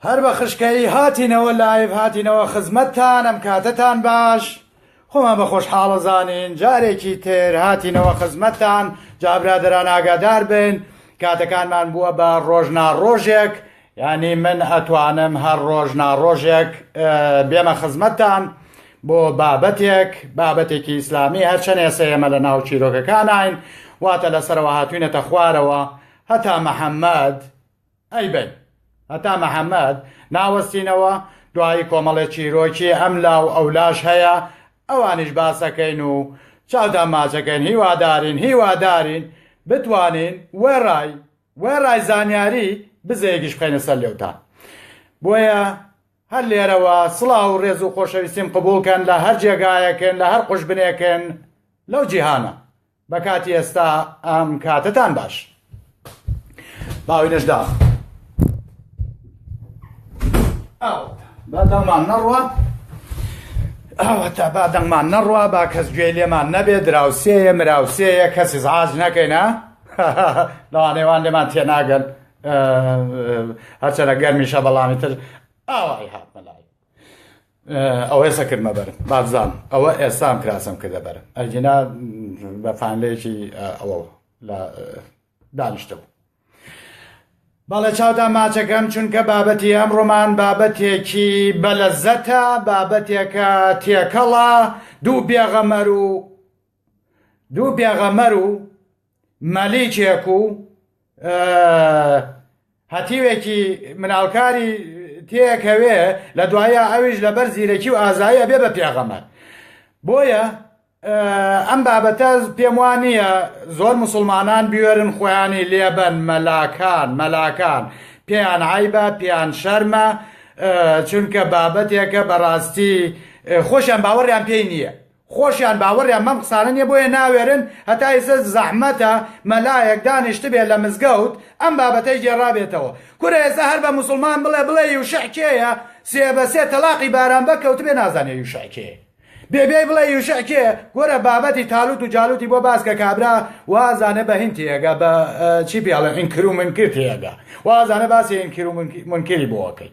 هەر بە خشکەیی هاتینەوە لایڤ هاتینەوە خزمەتتان ئەم کاتەتان باش خۆمان بە خۆشحاڵە زانین جارێکی تر هاتینەوە خزمەتتان جابرادران ئاگادار بن کاتەکانمان بووە بە ڕۆژ ناڕۆژێک یانی من ئەتوانم هەر ڕۆژ ناڕۆژێک بێمە خزمەتتان بۆ بابەتێک بابەتێکی ئیسلامی هەرچەند ئێسە ئێمە لە ناو چیرۆکەکانین واتە لەسەرەوە هاتوینەتە خوارەوە هەتا محەممەد ئەی بن هەتا محەممەد ناوەستینەوە دوایی کۆمەڵێ چیرۆکی ئەم لاو ئەولاش هەیە ئەوانیش باسەکەین و چاوتان ماچەکەین هیوادارین هیوادارین بتوانین وێڕای وێڕای زانیاری بزەیەکیش بخەینە سەر لێوتان بۆیە هەر لێرەوە سڵاو و ڕێز و خۆشەویستیم قبولکەن لە هەر جێگایەکن لە هەر قوشبنێکن لەو جیهانە بە کاتی ئێستا ئەم کاتتان باش باوی نەشدا بادەمان نەڕوە ئەوەتا بادەمان نەڕوە با کەس گوێ لێمان نەبێ دراوسێیە مراوسەیە کەسی زعاج نەکەینە هەهەهە لەوانەیە وان لێمان تێناگەن هەرچەنە گەرمیشە بەڵامی تر ئاوای هات مەلای ئەو هێسە کردمە بەرم بازان ئەوە ئێستام کراسم کردە بەرم ئەجینا بە فانلێکی ئەوە لە دانیشتەوە بەڵێ چاودا ماچەکەم چونکە بابەتی ئەم ڕۆمان بابەتێکی بەلەزەتە بابەتێکە تێکەڵە دوو بێغەمەر و دوو پێغەمەر و مەلیکێک و هەتیوێکی مناڵکاری تێکەوێ لە دوایە ئەویش لەبەر زیرەکی و ئازایە بێ بە پێغەمەر بۆیە ئەم بابەتە پێم وان نییە زۆر مسلمانان بوێرن خۆیانی لێبەن مەلاکان مەلاکان پێیان عیبە پێیان شەرمە چونکە بابەتێکە بەڕاستی خۆشیان باوەڕیان پێی نییە خۆشیان باوەڕیان بەم قسانە نیە بۆیە ناوێرن هەتا ئیسە زەحمەتە مەلایەک دانیشتبێ لە مزگەوت ئەم بابەتەی گێڕابێتەوە کورە ئێسە هەر بە موسڵمان بڵێ بڵێ یوشع کێیە سێ بە سێ تەڵاقی باران بە کەوتبێ نازانێ یوشع کێ بێ بێی بڵێ یوشع کێ گۆرە بابەتی تالوت و جالوتی بۆ باس کە کابرا وازانە بە هین تێگە بە چی پێڵێ ئینکر و منکر تێگە وازانە باسی ئینکر و منکری بۆکەی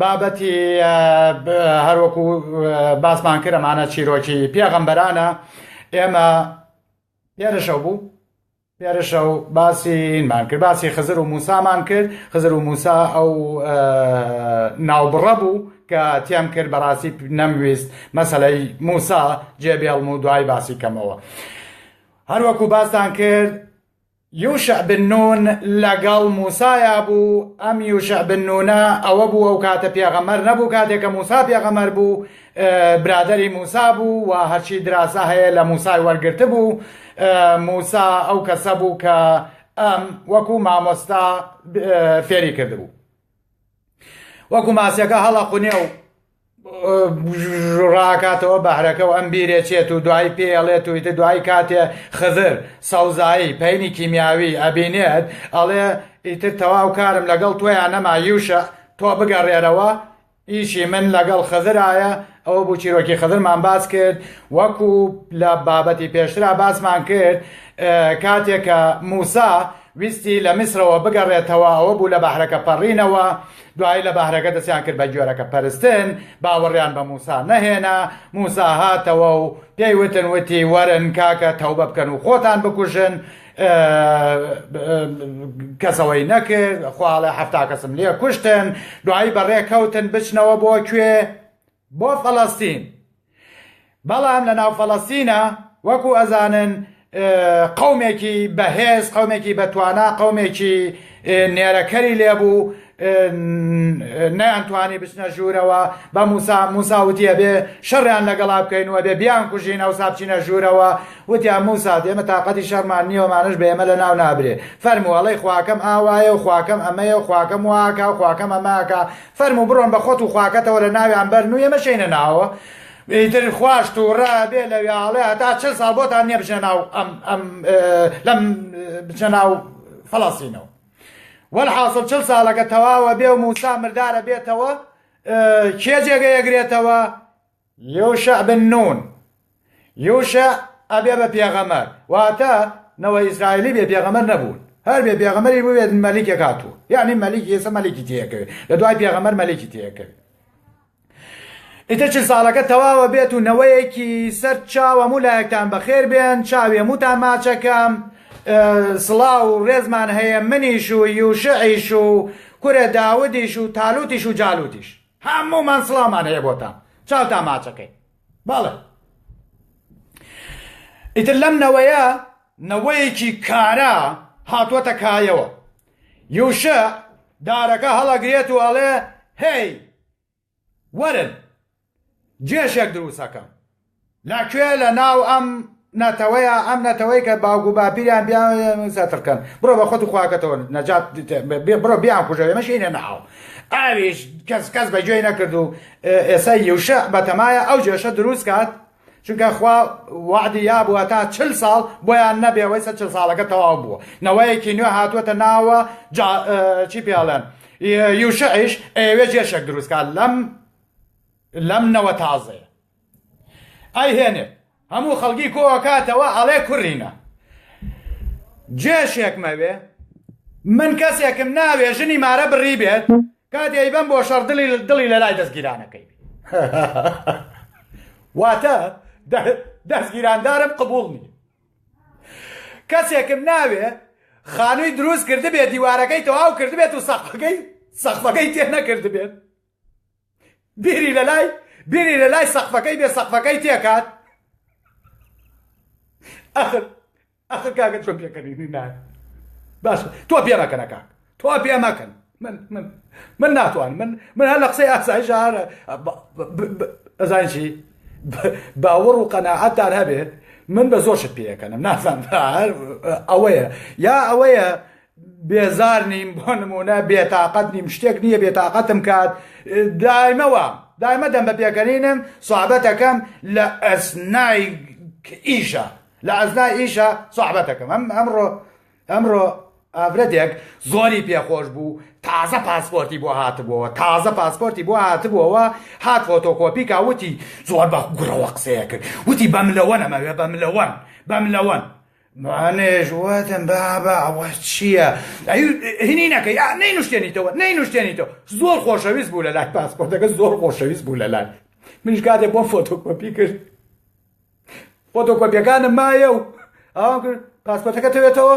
بابەتی هەروەکو باسمان کرد ئەمانە چیرۆکی پێغەمبەرانە ئێمە پێرشەو بوو پێرشە و باسیمان کرد باسی خزر و موسامان کرد خزر و موسا ئەو ناوبڕە بوو کە تێم کرد بەڕاستی نەمویست مەسلەی موسا جێبێڵم و دوای باسی کەمەوە هەروەکو باستان کرد یوشع بن نون لەگەڵ موسایا بوو، ئەم یوشع بن نونە ئەوە بوو ئەو کاتە پێغەمبەر نەبوو کاتێ کە موسا پێغەمبەر بوو برادەری موسا بوو و هەرچی دراسە هەیە لە موسای وەرگرتبوو موسا ئەو کەسە بوو کە ئەم وەکو مامۆستا فێری کردبوو وەکو ماسیەکە هەڵە قونێ و ڕاکاتەوە بەحرەکە و ئەم بیرێ چێت و دوایی پێ ئەڵێت و ئیتر دوایی کاتێ خزر سەوزایی پەینی کیمیاوی ئەبینێت ئەڵێ ئیتر تەواو کارم لەگەڵ تۆیان نەما یوشە تۆ بگەڕێرەوە ئیشی من لەگەڵ خزرایە ئەوە بوو چیرۆکی خزرمان باس کرد وەکو لە بابەتی پێشترا باسمان کرد کاتێکە موسا ویستی لە میسرەوە بگەڕێتەوە ئەوە بوو لە بەحرەکە پەڕینەوە دوایی لە بەهرەکە دەستیان کرد بە گوێرەکە پەرستن، باوەڕیان بە موسا نەهێنا، موسا هاتەوە و پێی وتن وتی وەرن کاکە تەوبە بکەن و خۆتان بکوژن، کەس ئەوەی نەکرد، خوا ئەڵێ حەفتا کەسم لێ کوشتن، دوایی بەڕێ کەوتن بچنەوە بۆ کوێ؟ بۆ فەلەستین بەڵام لە ناو فەلەستینە وەکو ئەزانن قومێکی بەهێز قومێکی بەتوانا قومێکی نێرەکەری لێبوو نەیانتوانی بچنە ژوورەوە بە موسا موساوتە بێ شەڕیان لەگەڵا بکەینەوە بێ بیان کوژین ئەو سابچینە ژوورەوە وتیان موسا دێمە تااقەتی شەرمان نیەوەمانش بە ئێمە لە ناو نابرێ فەرمووەڵی خواکەم ئاوایە و خواکەم ئەمەیە و خواکەم واکە و خواکەم ئەماکە فەرموو بڕۆن بە خۆت و خواکەتەوە لە ناویان بەرن و ئێمە شێینە ناوەوە ئیتر خواش تووڕە ئەبێ لە وێاڵێ هەتا چل ساڵ بۆتان نییە بچنە ناو ئەم ئەم لەم بچنە ناو فەڵەستینەوە وەلحاصل چل ساڵەکە تەواوە بێ و موسا مردارە بێتەوە کێ جێگەی ئەگرێتەوە یوشع بن نون، یوشع ئەبێ بە پێغەمبەر، واتە نەوەی ئیسرائیلی بێ پێغەمبەر نەبوون، هەر بێ پێغەمبەریش ببێت مەلیکێک هاتووە، یەعنی مەلیک ئیسە مەلیکی تێکەوێت، لە دوای پێغەمبەر مەلیکی تێکەوێت. ئیتر چل ساڵەکە تەواوە بێت و نەوەیەکی سەر چاو هەموو لایەکتان بەخێر بێن، چاوی هەمووتان ماچەکەم، سڵاو و ڕێزمان هەیە منیش و یوشعیش و کورە داودیش و تالوتیش و جالوتیش. هەموومان سڵاومان هەیە بۆتان چاوتان ماچەکەی بەڵێ ئیتر لەم نەوەیە نەوەیەکی کارا هاتووەتە کایەوە یوشە دارەکە هەڵەگرێت و ئەڵێ هەی وەرن جێشێک دروستەکەم لە کوێ لە ناو ئەم نەتەوەیە ئەم نەتەوەی کە باوک و باپیریان بیان سەترکەن بڕۆ بە خۆت و خواکەتەوە نەجات بڕۆ بیان کوژە ئێمە شینە ناو ئاویش کەس کەس بە گوێی نەکرد و ئێستا یوشە بەتەمایە ئەو جێشە دروست کات چونکە خوا وعدی یا بووە تا چل ساڵ بۆیان نەبێ وەی سە چل ساڵەکە تەواو بووە نەوەیەکی نوێ هاتووەتە ناوە چی پیاڵێن یوشەعیش ئەوێ جێشێک دروستکات لەم لەم نەوە تازەیە ئەی هێنێ هەموو خەڵکی کۆکاتەوە ئەڵێ کوڕینە جێشێک مەوێ من کەسێکم ناوێ ژنی مارە بڕی بێت کاتێ بم بۆ شەڕ دڵی دڵی لە لای دەستگیرانەکەی واتە دەستگیراندارم قبول نیە کەسێکم ناوێ خانووی دروست کرد بێت دیوارەکەی تەواو کرد بێت و سەقەکەی سەخفەکەی تێ نەکرد بێت بیری لەلای بیری لەلای سەقفەکەی بێ سەقفەکەی تێکات ئەخر ئەخر کاکە چۆن پێکەنی نایە باش تۆ پێ مەکەنە کاک تۆ پێ مەکەن من من من ناتوان من من هەر لە قسەی ئاسایش هەر ئەزانین چی باوەڕ و قەنەعەتدار هەبێت من بە زۆر شت پێەکەنم نازان هەر ئەوەیە یا ئەوەیە بێزار نیم بۆ نموونە بێتاقەت نیم شتێک نییە بێتاقەتم کات دایمەوە دایمە دەم بە پێکەنینم سوعبەتەکەم لە ئەسنای ئیشە لە ئەزنای ئیشە سوعبەتەکەم ئەم ئەمڕۆ ئەمڕۆ ئافرەتێک زۆری پێخۆش بوو تازە پاسپۆرتی بۆ هاتبووەوە تازە پاسپۆرتی بۆ هاتبووەوە هات فۆتۆکۆپی کاوتی زۆر بە گوڕەوە قسەیە کرد وتی بەم لەوە نەمەوێ بەم لەوەن بەم لەوەن منیش وتم بابە ئەوە چییە؟ ئەی هینی نەکەی ئا نەینوشتێنیتەوە نەینوشتێنیتەوە زۆر خۆشەویست بوو لە لای پاسپۆرتەکە زۆر خۆشەویست بوو لە لای منیش کاتێ بۆ فۆتۆکۆپی کرد فۆتۆکۆپیەکانم مایە و ئاوام کرد پاسپۆرتەکە تەوێتەوە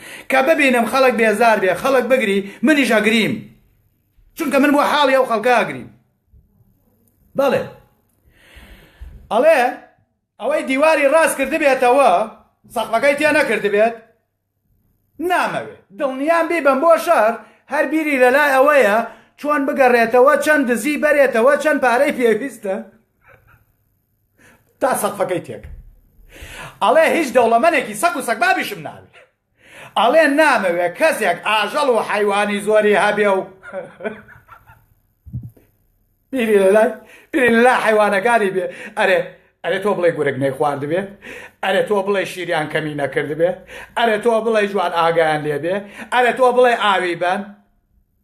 کە ببینم خەڵک بێزار بێ خەڵک بگری منیش ئەگریم چونکە من بۆ حاڵی ئەو خەڵکە ئەگریم بەڵێ ئەڵێ ئەوەی دیواری ڕاست کردبێتەوە سەقفەکەی تێ نەکردبێت نامەوێ دڵنیام بی بم بۆ شەر هەر بیری لەلای ئەوەیە چۆن بگەڕێتەوە چەند دزی بەرێتەوە چەند پارەی پێویستە تا سەقفەکەی تێکەوت ئەڵێ هیچ دەوڵەمەنێکی سەگ و سەگبابیشم ناوێ ئەڵێ نامەوێ کەسێک ئاژەڵ و حیوانی زۆری هەبێ و بیری لەلای بیری لەلا حیوانەکانی بێ ئەرێ ئەرێ تۆ بڵێ گورگ نەی خواردبێ ئەرێ تۆ بڵێ شیریان کەمی نەکردبێ ئەرێ تۆ بڵێ جوان ئاگیان لێبێ ئەرێ تۆ بڵێ ئاوی بەن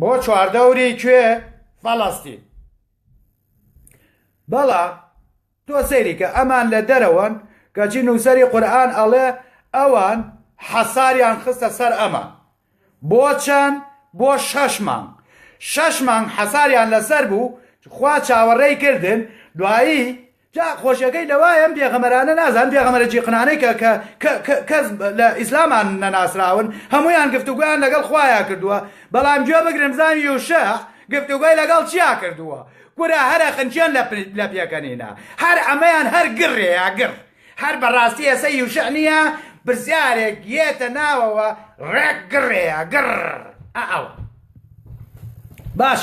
بۆ چواردەوری کوێ فەڵەستین بەڵا تۆ سەیریکە ئەمان لە دەرەوەن کەچی نووسری قورآن ئەڵێ ئەوان حەساریان خستە سەر ئەمە بۆ چەند بۆ شەش مانگ شەش مانگ حەساریان لەسەر بوو خوا چاوەڕێی کردن دوایی جا خۆشیەکەی لەوای ئەم پێغەمبەرانە نازان پێغەمبەرە جیقنانەی کە کە کە کە کەس لە ئیسلامان نەناسراون هەموویان گفتوگۆیان لەگەڵ خوایا کردووە بەڵام گوێ بگرن بزان یوشع گفتوگۆی لەگەڵ چیا کردووە کورە هەرە خنکێن لە لە پێکەنینە هەر ئەمەیان هەر گڕێیا گڕ هەر بەڕاستی ئێسە یوشع نییە پرسیارێک یێتە ناوەوە ڕێک گڕێیا گڕ ئەوە باش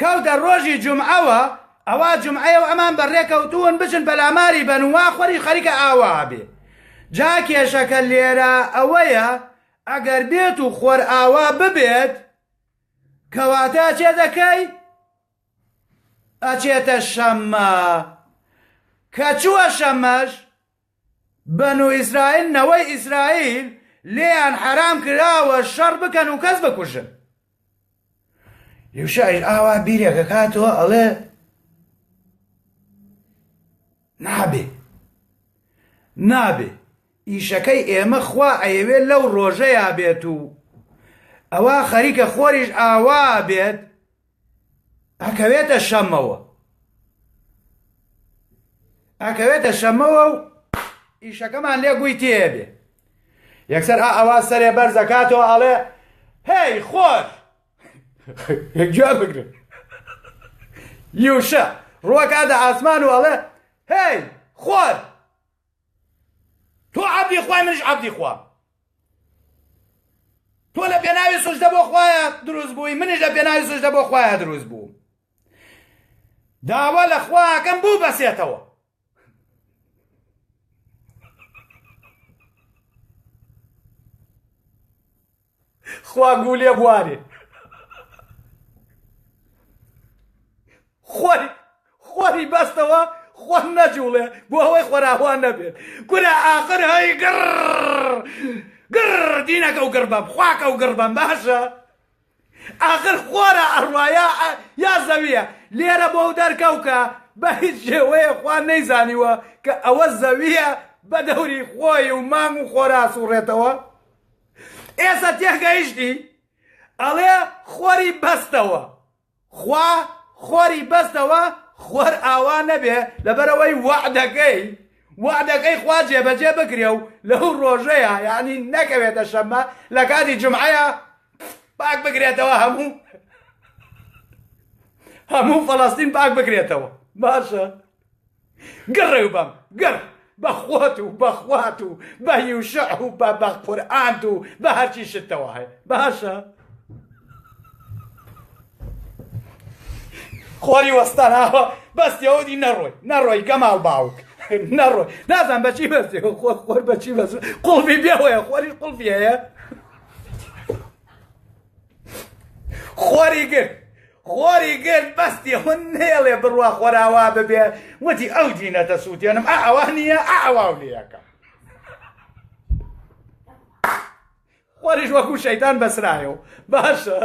کەوتە ڕۆژی جومعەوە ئەوا جومعەیەو ئەمان بە ڕێکەوتوون بچن پەلاماری بەن و وا خوەری خەریکە ئاوا بێ جا کێشەکە لێرە ئەوەیە ئەگەر بێت و خوەر ئاوا ببێت کەواتە چێ دەکەی ئەچێتە شەممە کە چووە شەمەش بەنو ئیسرائیل نەوەی ئیسرائیل لێیان حەرام کراوە شەڕ بکەن و کەس بکوژن یوشعیش ئاوا بیرێک کاتەوە ئەڵێ نابێ نابێ ئیشەکەی ئێمە خوا ئەیەوێت لەو ڕۆژەیە بێت و ئەوە خەریکە خۆریش ئاوا بێت ئەکەوێتە شەمەوە ئەکەوێتە شەمەوە و ئیشەکەمان لێ گوی تێبێ یەکسەر ئا ئەوا سەرێ بەرزەکاتەوە ئەڵێ هەی خۆش یەکجا بگرن یوشە ڕوەکاتە ئاسمان و ئەڵێ هەی خۆش تۆ عەبدی خوای منیش عەبدی خوام تۆ لە پێناوی سوژدە بۆ خوایە دروست بووی منیش لە پێناوی سوژدە بۆ خوایە دروست بووم داوا لە خواکەم بوو بەسێتەوە خوا گوو لێ بوارێ خۆی خۆری بەستەوە خۆ نەجوڵێ بۆ ئەوەی خۆراهوان نەبێت کورە ئاخر هەی گڕ گڕ دینەکە و گڕ بەم خواکە و گڕ بەم باشە ئاخر خۆرە ئەڕواە یا زەویە لێرە بۆ و دەرکەوکە بە هیچ شێوەیە خوان نەیزانیوە کە ئەوە زەویە بە دەوری خۆی و مانگ و خۆراس و ڕێتەوە ئێسە تێگەیشتی ئەڵێ خۆری بەستەوە خوا خۆری بەستەوە خۆر ئاوا نەبێ لەبەرەوەی وەعدەکەی وەعدەکەی خوا جێبەجێ بکرێ و لەو ڕۆژەیە یعنی نەکەوێتە شەمە لە کاتی جمعەیە پاک بگرێتەوە هەموو هەموو فەڵاستین پاک بگرێتەوە باشە گڕێو بەم گڕ بە خۆت و بە خوات و بە یوشع و بە بە قورئانت و بە هەرچی شتەوە هەیە باشە خۆری وەستاناوە بەس یەودی نەڕۆی نەڕۆی گەماڵ باوک نەڕۆی نازان بەچی بەستی خۆ خۆر بەچی بەس قوڵبی بێهۆیە خۆری قوڵبیەیە خۆری گرت خۆری گرت بەستی هون نێڵێ بڕوا خۆراوا ببێ وتی ئەو دینە دەسووتێنم ئا ئەوە نییە ئاواو لەکە خۆریش وەکو شەیتان بەسرایەوە باشە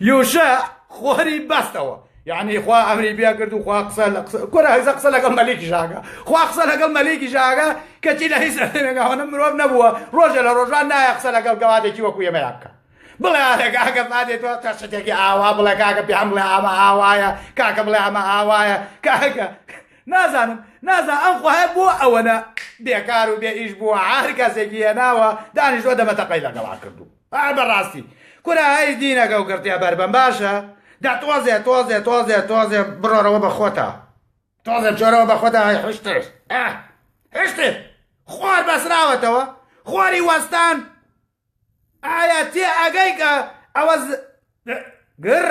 یوشە خۆری بەستەوە یعنی خوا ئەمری بیا کرد و خوا قسە لە قسە کورە هەزە قسە لەگەڵ مەلیکی ژاگە خوا قسە لەگەڵ مەلیکی ژاگە کەچی لە هیچ ئەتێنێگاوانە مرۆڤ نەبووە ڕۆژە لە ڕۆژان نایە قسە لەگەڵ گەوادێکی وەکو ئێمەیا بکە بڵێ ئارێک ئاگە فادێت تۆ قەشتێکی ئاوا بڵێ کاکە پێیان بڵێ ئامە ئاوایە کاکە بڵێ ئەمە ئاوایە کاکە نازانم نازا ئەم خوایە بۆ ئەوەنە بێکار و بێ ئیش بووە هەر کەسێکی هێناوە دانیشتوە دەمەتەقەی لەگەڵا کردو ئا بەڕاستی کورە هەی دینەکە و گڕتێ بەربەم باشە دا تۆزێ تۆزێ تۆزێ تۆزێ بڕۆرەوە بە خۆتا تۆزێ جۆرەوە بە خۆدا هەی حشتر ئا حشتر خۆر بەسراوەتەوە خۆری وەستان ئایا تێ ئەگەی کە ئەوە گڕ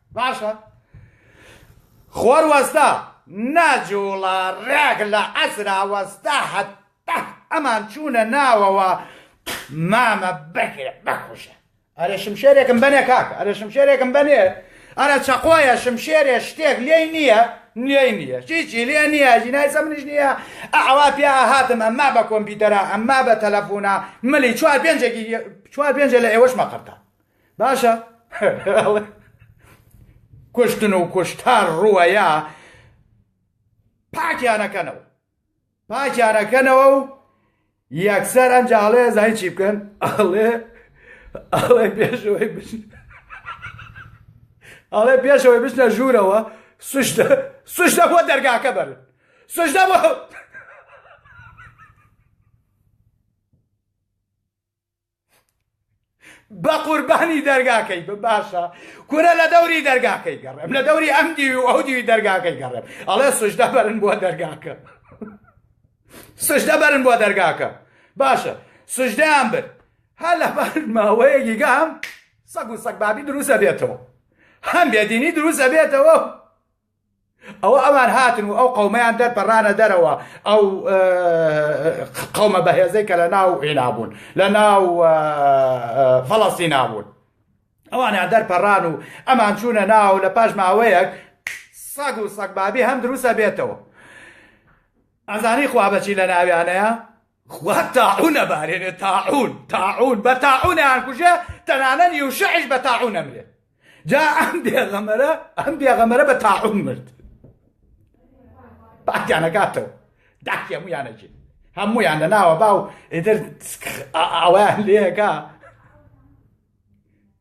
باشە خوار وەستا ناجووڵە ڕێک لە عەسرا وەستا هەتا ئەمان چوونە ناوەوە مامە بەگرە بەکوژە ئەرێ شمشێرێکم بەنێ کاک ئەرێ شمشێرێکم بەنێ ئەرە چەقۆیە شمشێرێ شتێک لێی نییە لێی نییە چیچی لێ نییە ژینای سەمنیش نییە ئەوا پیا هاتم ئەمما بە کۆمپیوتەرە ئەمما بە تەلەفۆنا ملی چوار پێنجێکی چوار پێنجە لە ئێوەش مەقەرتە باشە کوشتن و کوشتار ڕووەیە پاکیانەکەنەوە پاکیانەکەنەوە و یەکسەر ئەنجا ئەڵێ زای چی بکەن ئەڵێ ئەڵێ پێشەوەی بچن ئەڵێ پێشەوەی بچنە ژوورەوە سوشتە سوشتە بۆ دەرگاکە بەر سوشتە بۆ بەقوربانی دەرگاکەی بە باشە کورە لە دەوری دەرگاکەی گەڕێم لە دەوری ئەم دیوی و ئەو دیوی دەرگاکەی گەڕێم ئەڵێ سوشدە بەرن بۆ دەرگاکە سوشدە بەرن بۆ دەرگاکە باشە سوشدەیان برد هە لە بەر ماوەیەکی گام سەگ و سەگ بابی دروستە بێتەوە هەم بێدینی دروستە بێتەوە ئەوە ئەوان هاتن و ئەو قەومەیان دەرپەڕانە دەرەوە ئەو قەومە بەهێزەی کە لە ناو عێنابوون لە ناو فەڵەستی نابوون ئەوانیان دەرپەڕان و ئەمان چوونە ناو لە پاش ماوەیەک سەگ و سەگبابی هەم دروستە بێتەوە ئەزانی خوا بەچی لە ناویانەیە خوا تاعون ئەبارێنێ تاعون تاعون بە تاعون ئەیانکوژێ تەنانەت یوشعیش بە تاعون ئەمرێ جا ئەم بێغەمەرە ئەم بێغەمەرە بە تاعون مرد باکیانەکاتەوە داکی هەمویانەجێ هەمویان لە ناوە باو ئیتر ئەویان لێەکە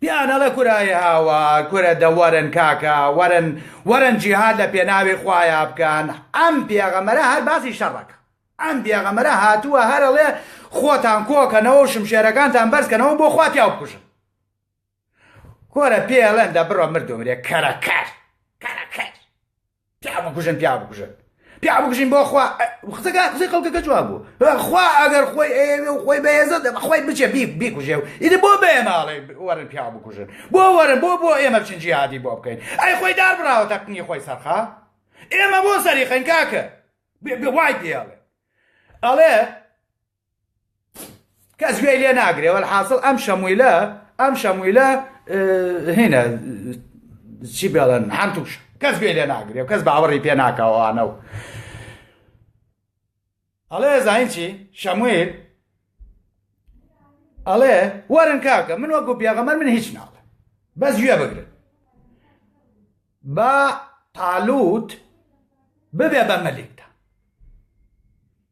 پێیان ئەڵێ کورە ئەی هاوا کورە دە وەرن کاکە وەرن وەرن جیهاد لە پێناوی خوایا بکەن ئەم پێغەمبەرە هەر باسی شەڕەکە ئەم پێغەمبەرە هاتووە هەر ئەڵێ خۆتان کۆکەنەوە و شمشێرەکانتان بەرزکەنەوە بۆ خوا پیاو بکوژن کورە پێڵێن دە بڕۆ مردومرێ کەرەکەر کەرەکەر پیا بکوژن پیا بکوژن پیا بکوژین بۆ خوا قسەکە قسەی خەڵکەکە جواب بوو خوا ئەگەر خۆی ئێوێ و خۆی بەهێزە خۆی بچێ بی بیکوژێ و ئیدە بۆ بەیە ناڵێ وەرن پیا بکوژن بۆ وەرن بۆ بۆ ئێمە بچین جیهادی بۆ بکەین ئەی خۆی دار بڕاوە تەقنی خۆی سەرخا ئێمە بۆ سەری خەنکاکە وای پێڵێ ئەڵێ کەس گوێی لێ ناگرێ وەلحاصل ئەم شەمویلە ئەم شەمویلە هینە چی بێڵن هەمتوش کەس گوێی لێ ناگرێ و کەس باوەڕی پێ ناکەوانە و ئەڵێ زانین چی شەمویل ئەڵێ وەرن کاکە من وەکو پێغەمەر من هیچ ناڵێ بەس گوێ بگرن بە تالوت ببێ بە مەلێکدا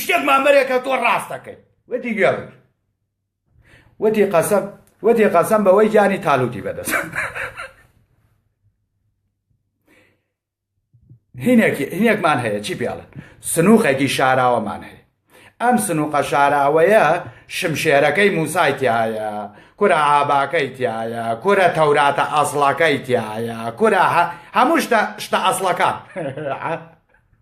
شتێک مامەرێکە تۆ ڕاست دەکەیت وتی گوێڕی وتی قەسەم وتی قەسەم بەوەی گیانی تالوتی بەدەست هینێکمان هەیە چی پێڵن سنووقێکی شاراوەمان هەیە ئەم سنووقە شاراوەیە شمشێرەکەی موسای تایە کورە ئاباکەی تایە کورە تەوراتە ئەسڵەکەی تایە کورە هەموو شتە ئەسڵەکان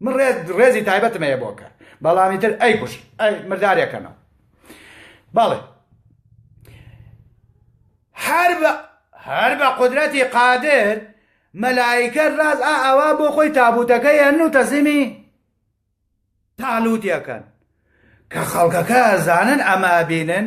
من ڕێز ڕێزی تایبەتم هەیە بۆ کە بەڵامی تر ئەی کوش ئەی مردارێکەنەوە بەڵێ هەر بە هەر بە قدرەتی قادر مەلایکە ڕاز ئا ئەوە بۆ خۆی تابوتەکە یان و تەزیمی تاالووتەکەن کە خەڵکەکە زانن ئەمە بینن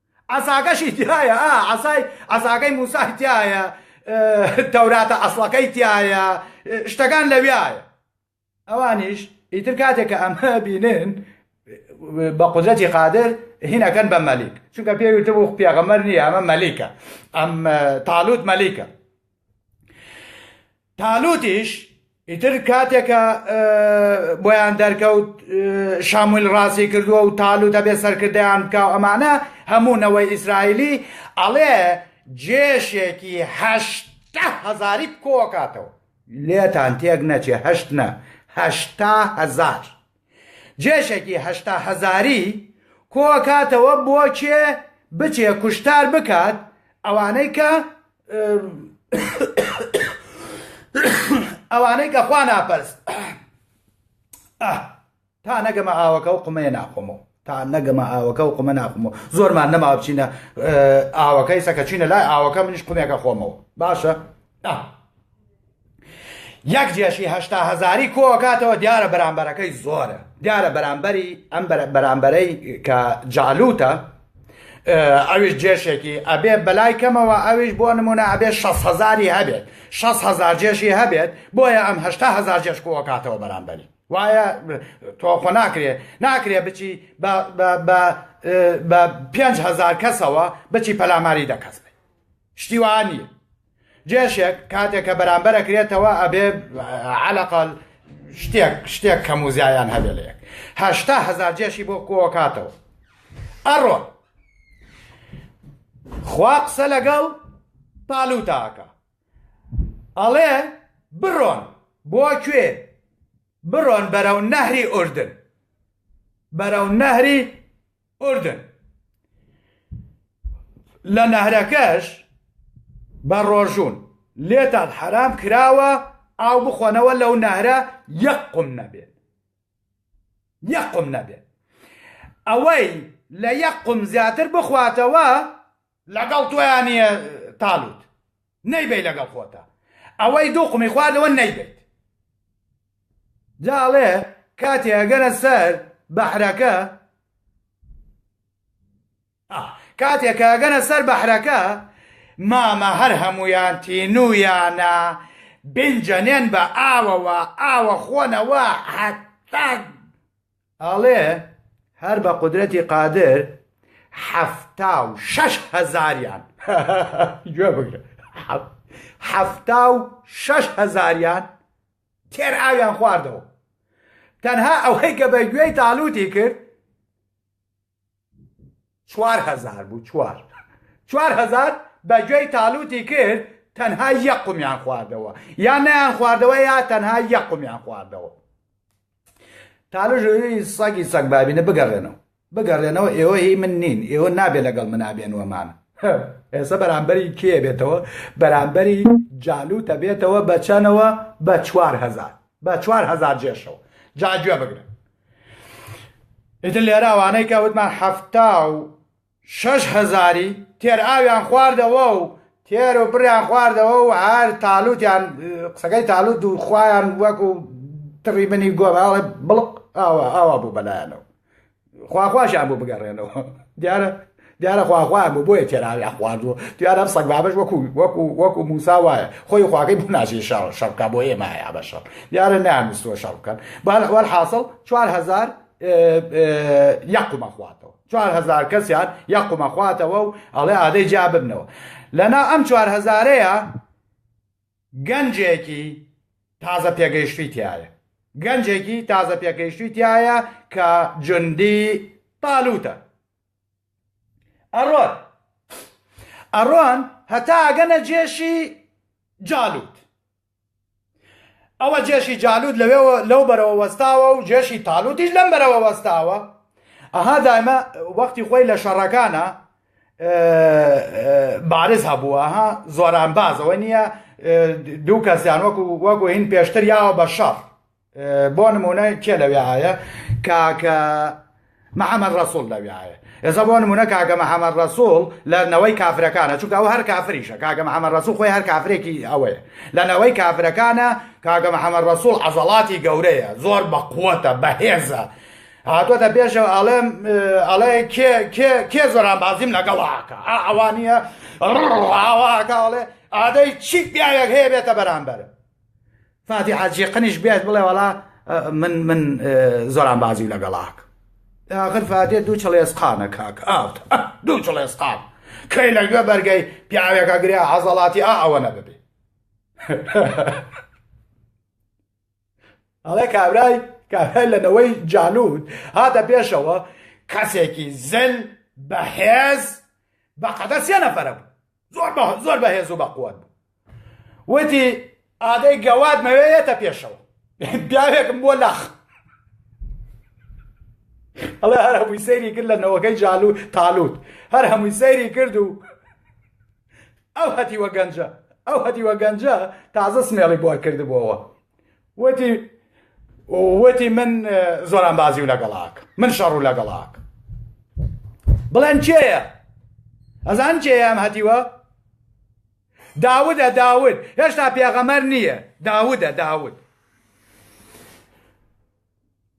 عەساکەشی تیایە ئا عەسای عەساکەی موسای تیایە تەوراتە ئەسڵەکەی تیایە شتەکان لەویایە ئەوانیش ئیتر کاتێک کە ئەمە بینن بە قدرەتی قادر هینەکەن بە مەلیک چونکە پێویتە بۆ پێغەمەر نییە ئەمە مەلیکە ئەم تاالوت مەلیکە تالوتیش ئیتر کاتێکە بۆیان دەرکەوت شامویل ڕاستی کردووە و تالو دەبێت سەرکردیان بکاو ئەمانە هەموو نەوەی ئیسرائیلی ئەڵێ جێشێکی هەشتا هەزاری کۆکاتەوە لێتان تێک نەچێ هەشت نە هەشتا هەزار جێشێکی هەشتا هەزاری کۆئەکاتەوە بۆ کێ بچێ کوشتار بکات ئەوانەی کە ئەوانەی کە خوا ناپەرست تا نەگەمە ئاوەکە و قمەیە ناخۆمەوە تا نەگەمە ئاوەکە و قمە ناخمەوە زۆرمان نەما بچینە ئاوەکەی سەکە چینە لای ئاوەکە منیش قمێکە خۆمەوە باشە یەک جێشی هەشتا هەزاری کۆکاتەوە دیارە بەرامبەرەکەی زۆرە دیارە بەرامبەری ئەم بەرامبەرەی کە جالوتە ئەویش جێشێکی ئەبێ بەلای کەمەوە ئەویش بۆ نمونە ئەبێ 6 هزاری هەبێت 6 هزار جێشی هەبێت بۆیە ئەم هشتا هزار جێش کۆکاتەوە بەرامبەری وایە تۆخۆ ناکرێ ناکرێ بچی بە 5هزار کەسەوە بچی پەلاماری دەکەس شتیوانی جێشێک کاتێک کە بەرامبەر ئەکرێتەوە ئەبێ عەلەقەل شتێک شتێک کەم و زیایان هەبێ لە یەک هەشتا هەزار جێشی بۆ کۆکاتەوە ئەڕۆ خوا قسە لەگەڵ تالوتاکە ئەڵێ بڕۆن بۆ کوێ بڕۆن بەرەو نەهری ئوردن بەرەو نەهری ئوردن لە نەهرەکەش بە ڕۆژون لێتان حەرام کراوە ئاو بخۆنەوە لەو نەهرە یەک قم نەبێت یەک قم نەبێت ئەوەی لە یەک قم زیاتر بخواتەوە لەگەڵ تویانە تاالوت نەیبەی لەگەڵ خۆتە ئەوەی دوو قمی خواردەوە نەیبەیت. جا ئەڵێ کاتێ ئەگەنە سەر بەحرەکە کاتێ کە ئەگەنە سەر بەحرەکە مامە هەر هەمویان تینویانە بینجەنێن بە ئاوەوە ئاوە خۆنەوە هەتا ئەڵێ هەر بە قودرەتی قادر حەفتا و شەش هەزاریان گوێ بگرە حەفتا و شەش هەزاریان تێر ئاویان خواردەوە تەنها ئەوەی کە بە گوێی تاالوتی کرد چوار هەزار بوو چوار چوار هەزار بە گوێی تالوتی کرد تەنها یە قومیان خواردەوە یا نیان خواردەوە یا تەنها یە قومیان خواردەوە تالژوی سەگی سەگ بابینە بگەڕێنەوە بگەڕێنەوە ئێوە هی من نین ئێوە نابێ لەگەڵ منابێنوەمان ئێستا بەرامبەری کێ بێتەوە بەرامبەری جالو تەبێتەوە بەچەنەوە بە چوار هزار بە چوار هزار جێشەوە جاگوێ بگرن ئیتر لێرە ئەوانەی کە وتمان حەفتا و شەش هەزاری تێر ئاویان خواردەوە و تێر و بڕیان خواردەوە و هەر تالوتیان قسەکەی تالوت و خویان وەکو تڕی بنی گۆباڵێ بڵق ئاوا ئاوا بوو بەلایەنەوە خواخواشیان بۆ بگەڕێنەوە دیارە دیارە خوا خوایان بوو بۆیە تێراویان خواردووە دیارە ئەم سەگ بابەش وەکو وەکو وەکو موسا وایە خۆی خواکەی بۆ ناچێت شەڕ شەڕ بکا بۆ ئێمە هەیە بە شەڕ دیارە نانووسوە شەڕ بکەن بەوەر حاصل چوار هزار یەقمە خواتەوە چوار هزار کەسیان یەقمە خواتەوە و ئەڵێ ئادەی جیا ببنەوە لەنا ئەم چوار هزارەیە گەنجێکی تازە پێگەیشتوی تایە گەنجێکی تازە پێگەیشتوی تایە کە جندی تالوتە ئەڕۆن ئەڕۆن هەتا ئەگەنە جێشی جالوت ئەوە جێشی جالوت لەوێ لەو بەرەوە وەستاوە و جێشی تالوتیش لەم بەرەوە وەستاوە ئەها دایمە وەختی خۆی لە شەڕەکانە بارز هەبووە ها زۆران بازەوە نییە دوو کەسیان وەکو وەکو هین پێشتر یاوە بە شەڕ بۆ نمونە کێ لەوێعاە کاکە محەممەد ڕسوول لەوێعاە ئێستا بۆ نمونە کاکە محەممەد ڕسوول لە نەوەی کافرەکانە چونکە ئەو هەر کافریشە کاکە محەممەد ڕسوول خۆی هەر کافرێکی ئەوەیە لە نەوەی کافرەکانە کاکە محەممەد ڕسوول عەزەڵاتی گەورەیە زۆر بە قووەتە بەهێزە هاتووەتە پێشەوە ئەڵێم ئەڵێ کێ زۆران بازیم لەگەڵاکە ئەوانە ڕاواکە ئەڵێ ئادەی چی پیاوێک هەیە بێتە بەرامبەر فاتیحە جیقنیش بێت بڵێ وەڵا من من زۆران بازی لەگەڵاک ئاخر فاتێ دوو چڵێسقانە کاک ئاوت دوو چڵێسقان کەی لەگوێ بەرگەی پیاوێکە گریا عەزەڵاتی ئا ئەوە نەبێ ئەڵێ کابرای کابرای لەنەوەی جالوود هاتە پێشەوە کەسێکی زل بەهێز بەقەدەر سێ نەفەرە بوو زۆر بە زۆر بەهێز و بەقوت بوو وتی ئادەی گەواد مەوێتە پێشەوە پیاوێکم بۆ لاخ ئەڵێ هەر هەمووی سەیری کرد لە نەوەکەی جالو تالوت هەر هەمووی سەیری کرد و ئەو هەتیوە گەنجە ئەو هەتیوە گەنجە تازە سمێڵی بۆ کردبووەوە وتی وتی من زۆران بازی و لەگەڵاک من شەڕ و لەگەڵاک بڵێن کێیە ئەزان کێیان هەتیوە داودە داود هێشتا پێغەمەر نییە داودە داود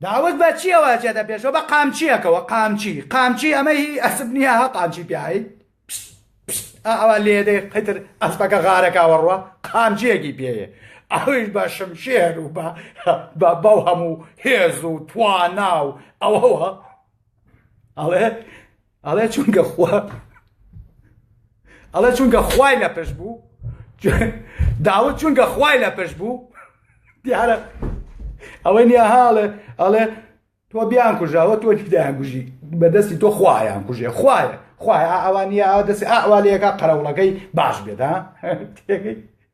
داوک بە چیەوە ئەچێتە پێشەوە بە قامچیەکەوە قامچی قامچی ئەمە هی ئەسپ نیە ها قامچی پیاهی پشت پشت ئا ئەوە لێدەی قەتر ئەسپەکە غارەکەوە ڕوە قامچیەکی پێیە ئەویش بە شمشێر و بە بە بەو هەموو هێز و توانا و ئەوەوە ئەڵێ ئەڵێ چونکە خوا ئەڵێ چونکە خوای لە پشت بوو داوت چونکە خوای لە پشت بوو دیارە ئەوەی نیە هاڵێ ئەڵێ تۆ بیان کوژاوە تۆ دیدایان گوژی بەدەستی تۆ خوایان کوژێ خوایە خوای ئاوانە ئا دەستی ئاوالەکە قەرەوڵەکەی باش بێت ها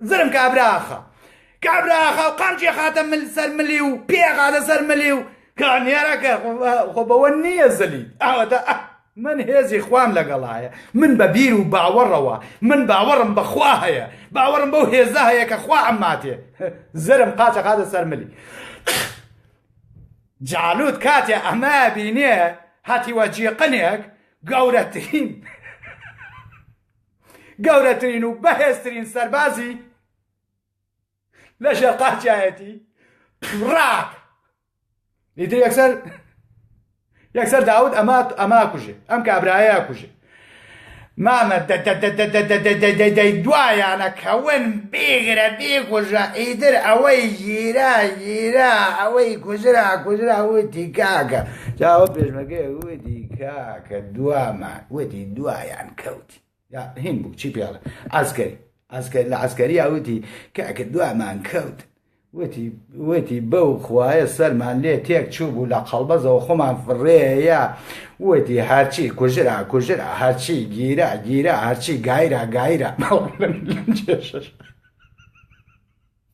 زرم کابرا ئاخا کابرا ئاخا و قامچی خاتە مل سەر ملی و پێ خاتە سەر ملی و کانیێرەکە خۆ بەوە نییە زەلیت ئەوەتە من هێزی خوام لەگەڵایە من بە بیر و باوەڕەوە من باوەڕم بەخوا هەیە باوەڕم بەو هێزە هەیە کە خوا ئەماتێ زرم قاچە قاتە سەرملی جالوت کاتێ ئەمە بینێ هاتیوە جیقنێک گەورەترین گەورەترین و بەهێزترین سەربازی لە ژێر قاچایەتی ڕاک ئیتر یەکسەر یەکسەر داود ئەما ئەما کوژێ ئەم کابراایە کوژێ مامە دوایانە کەون بێگرە بێگوژە ئیدر ئەوەی گیرا گیرا ئەوەی کوژرا کوژرا وتی کاکە جاوە پێشمەکەی وتی کاکە دوامە وتی دوایان کەوت هین بوو چی پێڵە ئاسگەری ئاسگەر لە ئاسگەریا وتی کاکە دوامان کەوت وتی وتی بەو خوایە سەرمان لێ تێک چوو بوو لە قەڵبەزەوە خۆمان فڕێە وتی هەرچی کوژرا کوژرا هەرچی گیرا گیرا هەرچی گایرا گایرا بەڵم لەم جێشش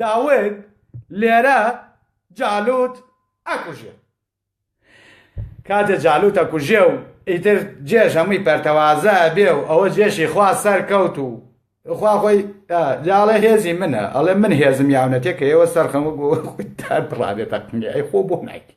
داود لێرە جالوت ئەکوژێ کاتێ جالوت ئەکوژێ و ئیتر جێش هەمووی پەرتەوازە بێ و ئەوە جێشی خوا سەر کەوت و خوا خۆی جاڵێ هێزی منە ئەڵێ من هێزم یاونەتێ کە ئێوە سەرخەم و گۆ خۆی تا بڕابێ تەقنگە ئەی خۆ بۆ نایکی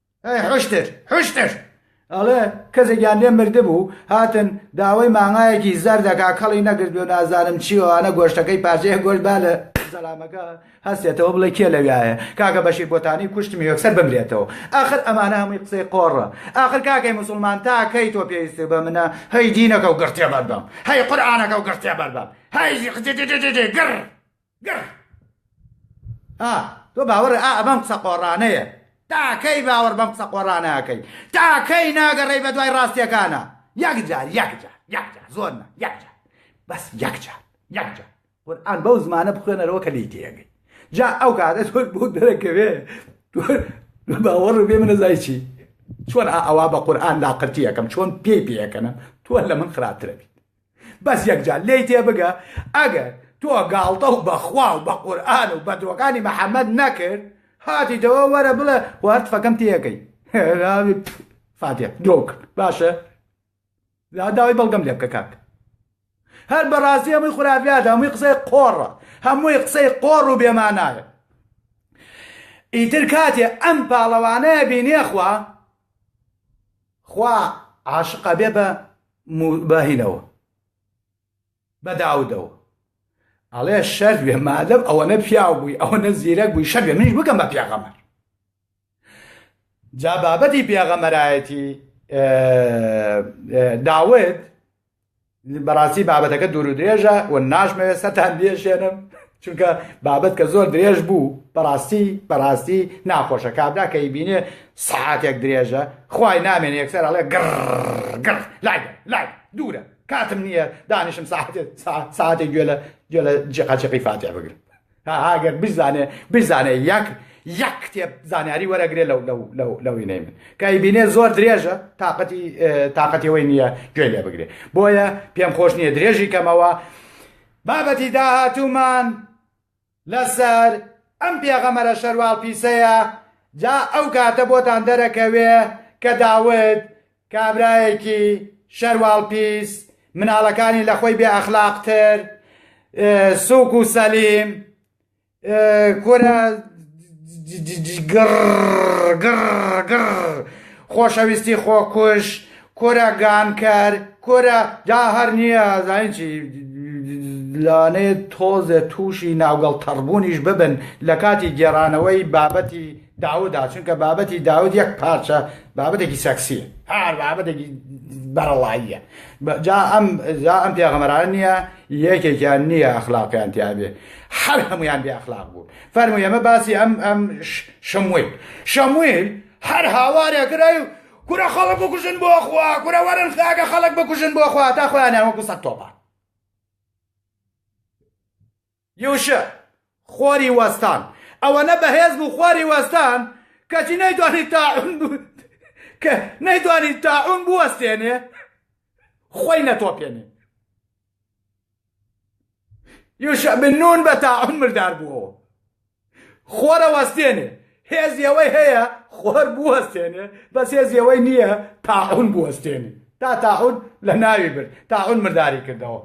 ئەی حشتر حشتر ئەڵێ کەسێکیان لێ مردبوو هاتن داوای مانگایەکی زەر دەکا کەڵی نەگرت بێ نازانم چیوانە گۆشتەکەی پارچەیە گۆشت با لە زەلامەکە هەستێتەوە بڵێ کێ لەویایە کاکە بەشی بۆتانی کوشتمی یەکسەر بمرێتەوە ئاخر ئەمانە هەمووی قسەی قۆڕە ئاخر کاکەی مسلمان تاکەی تۆ پێویستە بە منە هەی دینەکە و گڕتێ بەر بەم هەی قورآانەکە و گڕتێ بەر بەم هەی گڕ گڕ ئا تۆ باوەڕێ ئا ئەمەم قسە قۆڕانەیە تاکەی باوەڕ بەم قسە قۆڕانەکەی تاکەی ناگەڕێی بە دوای ڕاستیەکانە یەکجار یەکجار یەکجار زۆر نە یەکجار بەس یەکجار یەکجار قورآن بەو زمانە بخوێنەرەوە کە لی تێگەی جا ئەو کاتە تۆ بۆ دەرەکەوێ باوەڕ بێ منە زای چی چۆن ئەوا بە قورآن لاقرتی یەکەم چۆن پێی پێەکەنم تۆ لە من خراپترە بیت بەس یەکجار لێی تێبگە ئەگەر تۆ گاڵتە و بەخوا و بە قورئان و بەدرۆکانی محەمەد نەکرد هاتیتەوە وەرە بڵێ وەرت فەکەم تێەکەی فاتێ درۆک باشە داوای بەڵگەم لێ بکە کاک هەر بەڕاستی هەمووی خراپیات هەمووی قسەی قۆڕە هەمووی قسەی قۆڕ و بێمانایە ئیتر کاتێ ئەم پاڵەوانەیە بینێخوا خوا عاشقە بێ بە موباهینەوە بە داودەوە ئەڵێ شەر بێ مادەم ئەوەنە پیاو بووی ئەوەنە زیرەک بووی شەر بێ منیش بکەم بە پیاغەمەر جا بابەتی پیاغەمەرایەتی داوت بەڕاستی بابەتەکە دوور و درێژە و ناشمەوێت سەتان بێشێنم چونکە بابەت کە زۆر درێژ بوو بەڕاستی بەڕاستی ناخۆشە کابرا کە بینێ سعاتێک درێژە خی نامێن یەکسەر ئەڵێ گڕ گڕ لای لای دوورە کاتم نییە دانیشم ساعتێت ساعتێک گوێ لە گوێ لە جیقاچقی فاتێ بگرم هاگەر بزانێ بزانێ یەک یەک کتێب زانیاری وەرەگرێ لەو لەو لەو لەوی نەیمن کای بینێ زۆر درێژە تااقەتی تااقەتیەوەی نییە گوێ لێ بگرێ بۆیە پێم خۆش نییە درێژی کەمەوە بابەتی داهاتوومان لەسەر ئەم پێغەمەرە شەرواڵ پیسەیە جا ئەو کاتە بۆتان دەرەکەوێ کە داود کابرایەکی شەرواڵ پیس مناڵەکانی لەخۆی بێ ئەخلاق تر سوک و سەلیم کورە گڕ گڕ گڕ خۆشەویستی خۆکوژ کورە گانکەر کورە جا هەر نییە زانین چی لانێ تۆزێ تووشی ناوگەڵ تەڕبوونیش ببن لە کاتی گێڕانەوەی بابەتی داودا چونکە بابەتی داود یەک پارچە بابەتێکی سەکسیە هەر بابەتێکی بەرەڵاییە جا ئەم جا ئەم پێغەمەران نییە یەکێکیان نییە ئەخلاقیان تیاێ هەر هەمویان بێ ئەخلاق بوو فەرمو ئێمە باسی ئەم ئەم شمویل شەمویل هەر هاوارێ گرای و کورە خەڵک بکوژن بۆ خوا کورە وەرن خاگە خەڵک بکوژن بۆ خوا تا خۆیانیان وەکو سە تۆپان یوشع، خوری وەستان. ئەوەنە بەهێز بوو خوری وەستان، کەچی نەیتوانی تاعون بو کە نەیتوانی تاعون بوەستێنێ خۆی نەتۆپێنێ. یوشع بن نون بە تاعون مردار بووەوە. خۆر ئەوەستێنێ هێزی ئەوەی هەیە خۆر بوەستێنێ بەس هێزی ئەوەی نییە تاعون بوەستێنێ تا تاعون لە ناوی برد تاعون مرداری کردەوە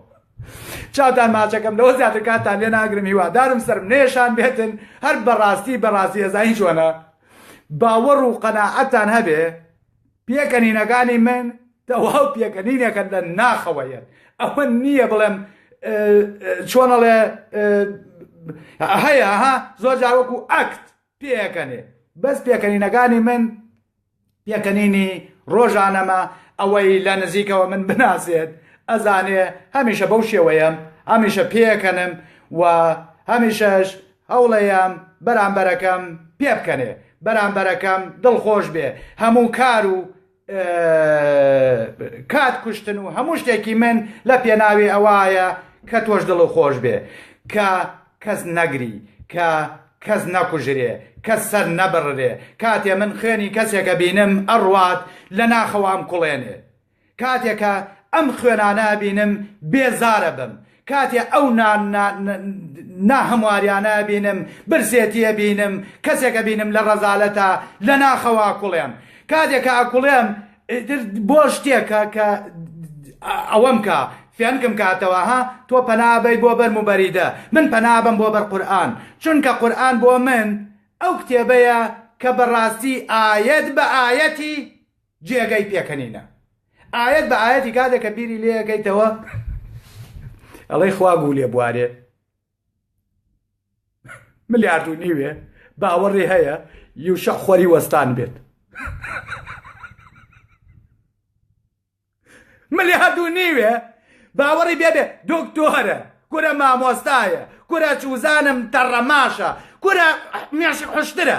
چاوتان ماچەکەم لەوە زیاتر کاتان لێ ناگرم هیوادارم سرم نێشان بێتن هەر بەڕاستی بەڕاستی ئێزا هیچ وەنە باوەڕ و قەناعەتان هەبێ پێکەنینەکانی من تەواو پێکەنینێکە لە ناخەوە یەت ئەوە نییە بڵێم چۆنەڵێ هەیە ها زۆر جاوەکو ئەکت پێکەنێ بەس پێکەنینەکانی من پێکەنینی ڕۆژانەمە ئەوەی لە نزیکەوە من بناسێت ئەزانێ هەمیشە بەو شێوەیەم هەمیشە پێکەنم و هەمیشەش هەوڵەیەم بەرامبەرەکەم پێ بکەنێ بەرامبەرەکەم دڵخۆش بێ هەموو کار و کات کوشتن و هەموو شتێکی من لە پێناوی ئەوایە کە تۆش دڵ و خۆش بێ کە کەس نەگری کە کەس نەکوژرێ کەس سەر نەبڕرێ کاتێ من خوێنی کەسێکە بینم ئەڕوات لە ناخەوام کوڵێنێ کاتێ کە ئەم خوێنانە ئەبینم بێزار ئەبم کاتێ ئەو نا نا نا هەمواریانە ئەبینم برسێتی ئەبینم کەسێک ئەبینم لە ڕەزالەتا لە ناخەوە ئەکوڵێم کاتێ کە ئەکوڵێم ئیتر بۆ شتێکە کە ئەوەم کا فێنکم کاتەوە ها تۆ پەنا بەی بۆ بەرم و بەریدە من پەنا بەم بۆ بەر قورئان چونکە قورئان بۆ من ئەو کتێبەیە کە بەڕاستی ئایەت بە ئایەتی جێگەی پێکەنینە ئاەت بە ئاەتی کاتێک کە بیری لەکەیتەوە ئەڵەی خوا بوو لێ بوارێ ملیارد و نیوێ باوەڕێ هەیە یوشە خۆری وەستان بێت ملیارد و نیوێ باوەڕی بێبێ دکتۆرە کورە مامۆستایە کورە چوزانم تەڕەماشە کورە مێش حشترە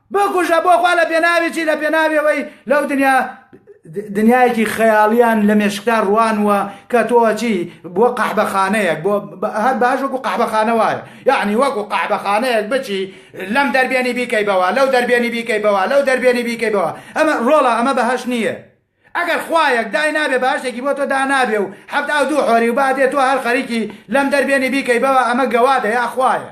بکوژە بۆ خوا لە پێناوی چی لە پێناوی ئەوەی لەو دنیا دنیایەکی خەیاڵیان لە مێشکتا ڕوانوە کە تۆچی بۆ قەحبەخانەیەک بۆ هەر باش وەکو قەحبەخانە وایە یعنی وەکو قەحبەخانەیەک بچی لەم دەربێنی بیکەی بەوە لەو دەربێنی بیکەی بەوە لەو دەربێنی بیکەی بەوە ئەمە ڕۆڵە ئەمە بەهش نییە ئەگەر خوایەک دای نابێ باشێکی بۆ تۆ دا نابێ و حەفت ئاو دوو حۆری و بادێ تۆ هەر خەریکی لەم دەربێنی بیکەی بەوە ئەمە گەوادە یا خوایە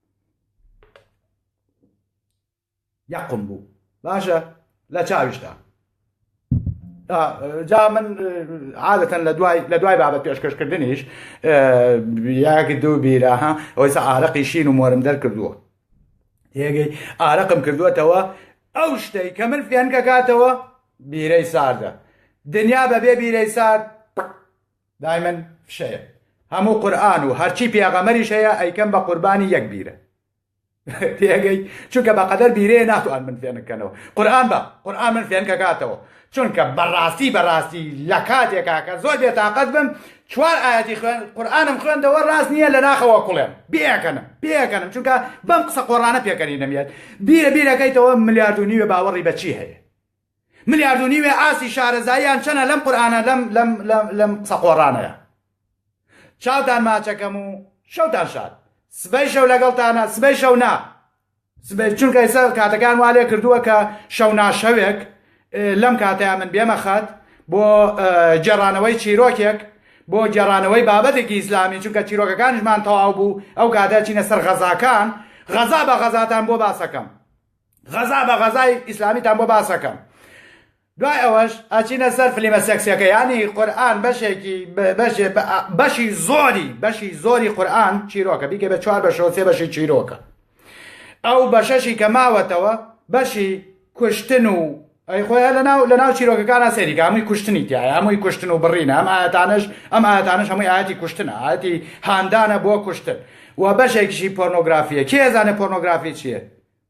یەقم بوو باشە لە چاویشدا جا من عادەتەن لە دوای لە دوای بابەت پێشکەشکردنیش یاک دوو بیرە ها ئەوەی عراقی شین و مۆرم دەرکردووە یەگەی ئارەقم کردووەتەوە ئەو شتەی کە من فێنکەکاتەوە بیرەی ساردە دنیا بەبێ بیرەی سارد دایمن فشەیە هەموو قورآن و هەرچی پێغەمەریش هەیە ئەیکەم بە قوربانی یەک بیرە تێگەی چونکە بەقەدەر بیرێ ناتوان من فێنکەنەوە قورآن بە قورآن من فێنکە کاتەوە چونکە بەڕاستی بەڕاستی لە کاتێکا کە زۆر بێتاقەت بم چوار ئاەتی خوێن قورآانم خوێندەوە ڕاست نییە لە ناخەوە کوڵێم بێکەنم پێکەنم چونکە بەم قسە قۆڕانە پێکەنی نەمێت بیرە بیرەکەیتەوە ملیارد و نیوە باوەڕی بەچی هەیە ملیارد و نیوێ ئاستی شارەزاییان چەنە لەم قورئانە لەم لەم لەم لەم قسە قۆڕانەیە چاوتان ماچەکەم و شەوتان شاد سبەی شەو لەگەڵتانە سبەی شەو نا سبەی چونکە ئێستا کاتەکان وا لێ کردووە کە شەو ناشەوێک لەم کاتەیە من بێمە خەت بۆ گێڕانەوەی چیرۆکێک بۆ گێڕانەوەی بابەتێکی ئیسلامی چونکە چیرۆکەکانیشمان تەواو بوو ئەو کاتە چینە سەر غەزاکان غەزا بە غەزاتان بۆ باسەکەم غەزا بە غەزای ئیسلامیتان بۆ باسەکەم دوای ئەوەش ئەچینە سەر فلیمە سێکسیەکە ینی قورآن بەشێکی بەشێ بەشی زۆری بەشی زۆری قورآن چیرۆکە بیکە بە چوار بەشەوە سێ بەشی چیرۆکە ئەو بەشەشی کە ماوەتەوە بەشی کوشتن و ئەی خۆیان لەناو لەناو چیرۆکەکانە سەریکە هەمووی کوشتنی تایە هەمووی کوشتن و بڕینە ئەم ئاەتانش ئەم ئاەتانش هەمووی ئاەتی کوشتنە ئاەتی هاندانە بۆ کوشتن و بەشێکیشی پۆرنۆگرافیە کێزانە پۆرنۆگرافی چییە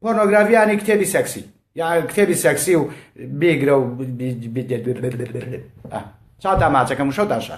پۆرنۆگرافی یانی کتێبی سەکسی یا کتێبی سەکسی و بێگرە و چاتا ماچەکەم شەو داشە